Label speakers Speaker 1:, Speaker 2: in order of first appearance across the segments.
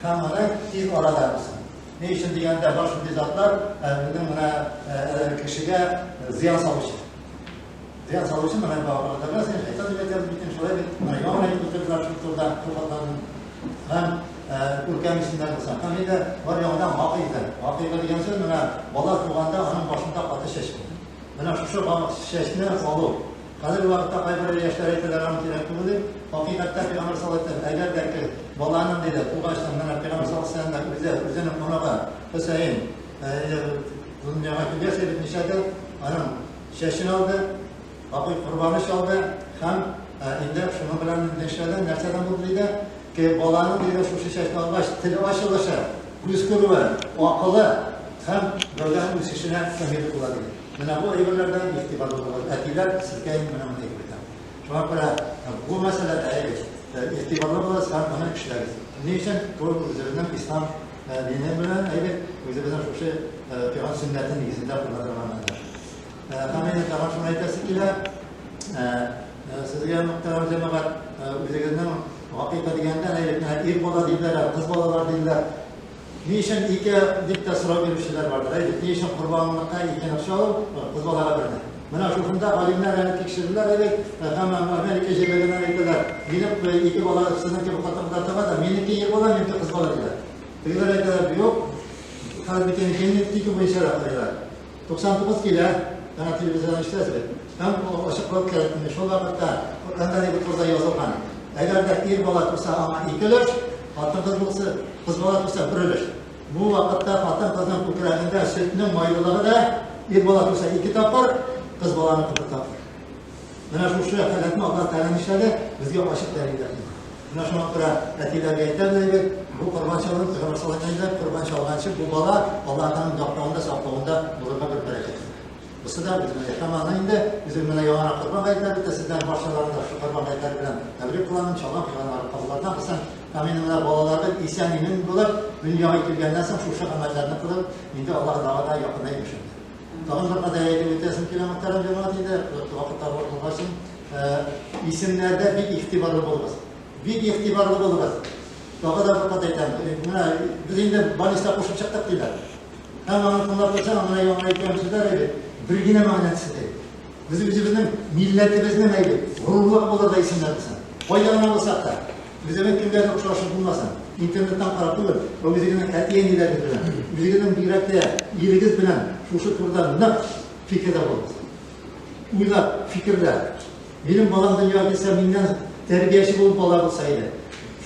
Speaker 1: Һәм моны тиз арада булсын. Ни өчен дигәндә, бар шундый затлар безнең менә кешегә зыян салучы. Зыян салучы менә бабаларда син шайтан дип әйтәбез бит, шулай бит. Менә яңа гына утырдылар шул турыда тукатларын. Һәм күркәм исемнәр булса. Һәм инде бар яңадан гакыйда. Гакыйда дигән сүз менә бала туганда аның башында каты чәч. Менә шушы чәчне алу Хәзерге вакытта кайбер яшьләр әйтәләр, аны кирәк түгел дип. Хакыйкатьтә Пәйгамбәр саллаллаһу алейһи ва сәлләм, әгәр дә ки, баланың, диде, тугачтын, менә Пәйгамбәр саллаллаһу алейһи ва сәлләмнең үзе, үзенең оныгы Хөсәен, әйе, дөньяга килгәч, әйтмичә дә, аның чәчен алды, апый корбаны чалды һәм инде шуның белән нишләде, нәрсәдән булды, диде, ки, баланың, диде, шушы чәчне алгач, теле ачылышы, күз күрүе, акылы һәм гәүдәһе үсешенә фаһийле була, диде. Менә бу әйберләрдән игътибарлы булыгыз, әтиләр, сезгә инде менә мондый әйбердән. Шуңа күрә бу мәсьәләдә әйбер, игътибарлы булыгыз һәм моны эшләгез. Ни өчен? Бу үзебезнең ислам дине белән әйбер, үзебезнең шушы пигамбер сөннәте нигезендә куллана торган әйбер. Һәм инде тагын шуны әйтәсе килә, сезгә мөхтәрәм җәмәгать, үзегезнең гакыйка дигәндә, әйбер, ир бала диләр, кыз балалар диләр. Ни өчен ике дип тә сорау бирүчеләр бардыр, әйдик, ни өчен корбанлыкка ике ныкчы алу, кыз балага берне? Менә шушында галимнәр әле тикшерделәр әле, һәм Америка җирлегеннән әйтәләр, минем ике бала сезнең кебек хатынга тыга да, минеке ир бала, минеке кыз бала диләр. Тегеләр әйтәләр, юк, хәрбикенеке, минеке буенча да карыйлар. 99 килә, яна телевизордан ишетәсез бит. Һәм ачыклык кирәк инде. Шул вакытта Коръәндә дип курда язылган. Әгәр дә ир бала туса, аңа ике өлеш, хатын кыз булса, кыз бала туса бер өлеш. Бу вакытта хатын кызның күкрәгендә сөтнең майлылыгы да ир бала туса ике тапкыр, кыз баланы кытып тапкыр. Менә шушы халәтне Аллаһ Тәгалә нишләде? Безгә ачык дәлилләр килде. Менә шуңа күрә әтиләргә әйтәбез әйбер, бу корбан чалган, Пәйгамбәр саллаллаһу алейһи ва сәлләм корбан чалганчы бу бала Аллаһ Тәгаләнең яклавында, саклавында булырга бер бәрәкәт. Бусы да үзенә яшәмаган инде, үзем менә яңа корбан гайтәре дә сездән барчаларында шушы корбан гайтәре белән тәбрик кылам, чалган кыйганнары кабулларына кылсын. Амин. Менә балаларга исән имин булып, дөньяга килгәннән соң шушы гамәлләрне кылып, инде Аллаһ Тәгаләгә якынайбыз. Тагын бер кадәр әйтеп үтәсем килә Мөхтәрәм җәмәгать инде, вакытлар бар булган өчен. Исемнәрдә бик игътибарлы булыгыз. Бик игътибарлы булыгыз. Тагы да бер кат әйтәм. Менә без инде балиста кушып чыктык диләр. Һәм аны тыңлап торсаң, аңа яңа әйткән сүзләр әйбәт. Бер генә мәгънәсе төште. Без үзебезнең милләтебезнең әйбәт, горурлык булырдай исемнәр булсын. Кайда гына булсак та, Үзенең кемгә охшашы булмасын, интернеттан карап түгел, ә үзегезнең әти-әниләрегез белән, үзегезнең бигрәк тә ирегез белән шушы турыда нык фикердә булыгыз. Уйлап, фикерлә. Минем балам дөньяга килсә, миннән тәрбияче булып бала булса иде.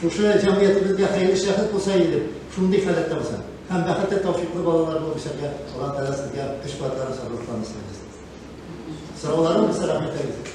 Speaker 1: Шушы җәмгыятебезгә хәерле шәхес булса иде, шундый халәттә булса. Һәм бәхетле тавшиклы балалар булып эшләргә, Аллаһ Тәгалә сезгә көч-куәтләрен сабырлыкларын исәбез. Сорауларым, рәхмәтләрегез.